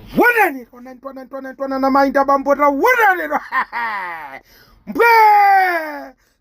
Taonani, taonani, taonani, taonani, taonani, amayi nda bambo taonani lero. Mbwe!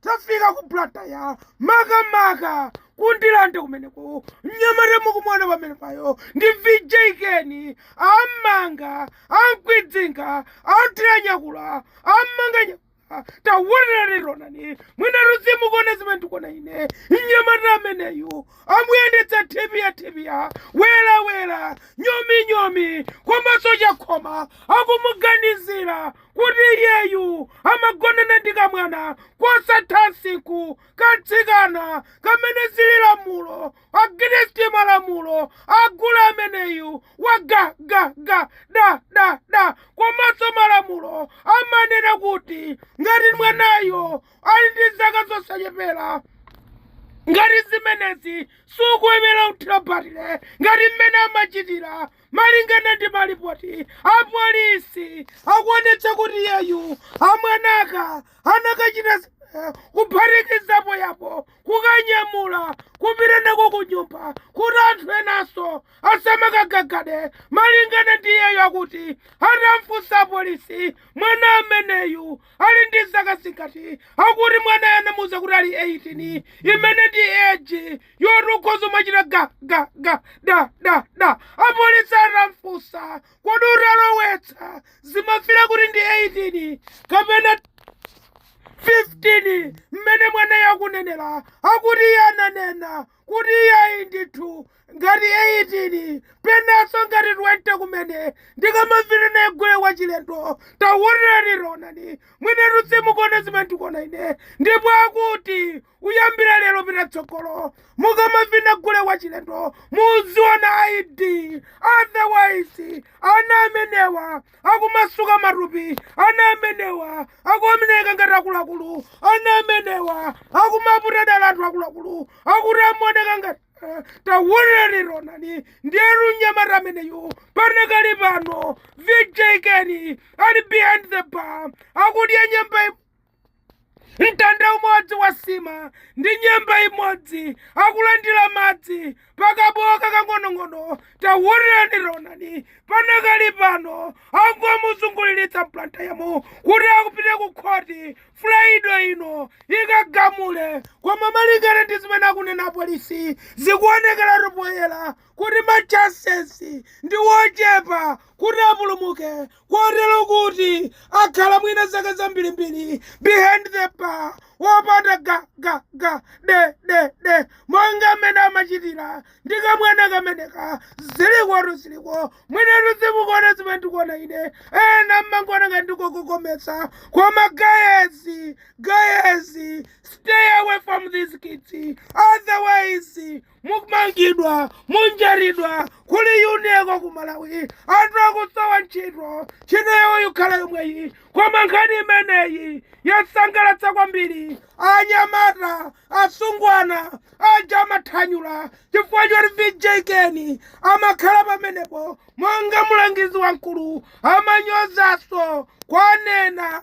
Tafika ku Blantaya makamaka ku Ndirande kumeneko mnyamata mukumuona pamenepayo ndi VJ Keni am'manga amkwidzinga amutira nyakula am'manga nya- taonani taonani mwinatu simukuona zimene ndikuona ine mnyamata ameneyu amuyendetsa thipiya thipiya wera wera nyomi nyomi komanso chakhoma akumuganizira kuti iyeyu amagonana ndi kamwana kosatha nsiku katsikana kamene zili lamulo Against malamulo a gule ameneyu wa ga ga ga da da da komanso malamulo amanena kuti ngati mwanayo ali ndi zaka zosachepera ngati zimenezi sukuyenera kuthira batire ngati mmene amachitira malingana ndi malipoti apolisi akuonetsa kuti iyeyu kamwanaka anakachita kuphatikizapo apo kukanyamula kupita nako ku nyumba kuti anthu enanso asamakagagade malingana ndi iyeyo akuti atamfunsa apolisi mwana ameneyu ali ndi zaka zingati akuti mwanayo anamuuza kuti ali 18 imene ndi eji yoti ukhoza kumachita ga ga ga da da da apolisi atamfunsa kodi utalowetsa zimafila kuti ndi 18 kapena 15 mmene mwanayu akunenera akuti iye ananena kuti iye ayi ndithu ngati 18 penanso ngati 20 kumene ndikamavina naye gule wachilendo taonani taonani mwinatu simukuona zimene ndikuona ine ndipo akuti kuyambira lero kupita tsogolo mukamavina gule wachilendo muziona id otherwise ana amenewa akumasuka matupi ana amenewa akumaoneka ngati akuluakulu ana amenewa akumaputa dala anthu akuluakulu akuti amaoneka ngati eh, taonani taonani ndiyetu mnyamata ameneyu panakali pano VJ Keni ali behind the bar akudya nyemba mtanda umodzi wa nsima ndi nyemba imodzi akulandira madzi pakabowo kakang'onong'ono taonani taonani panakali pano angomuzunguliritsa m'Blantayamo kuti akupita ku khoti Fulaide ino ikagamule koma malingana ndi zimene akunena apolisi zikuonekeratu poyera kuti machansesi ndi wochepa kuti apulumuke kotero kuti akhala mwina zaka zambirimbiri behind the bar wopanda ga ga ga de de de monga mmene amachitira ndi kamwana kameneka zilikotu ziliko mwinatu zimukuona zimene ndikuona ine ena mmangoona ngati ndikukokomeza koma gayezi gayezi stay away from these kids otherwise mumangidwa munjatidwa kuli yuneko ku malawi anthu akusowa ntchito ntchito yawo yokhala yomweyi koma nkhani imeneyi yasangalatsa kwambiri anyamata asungwana aja amathanyula chifukwa choti vijekeni amakhala pamenepo monga mulangizi wamkulu amanyozaso kwanena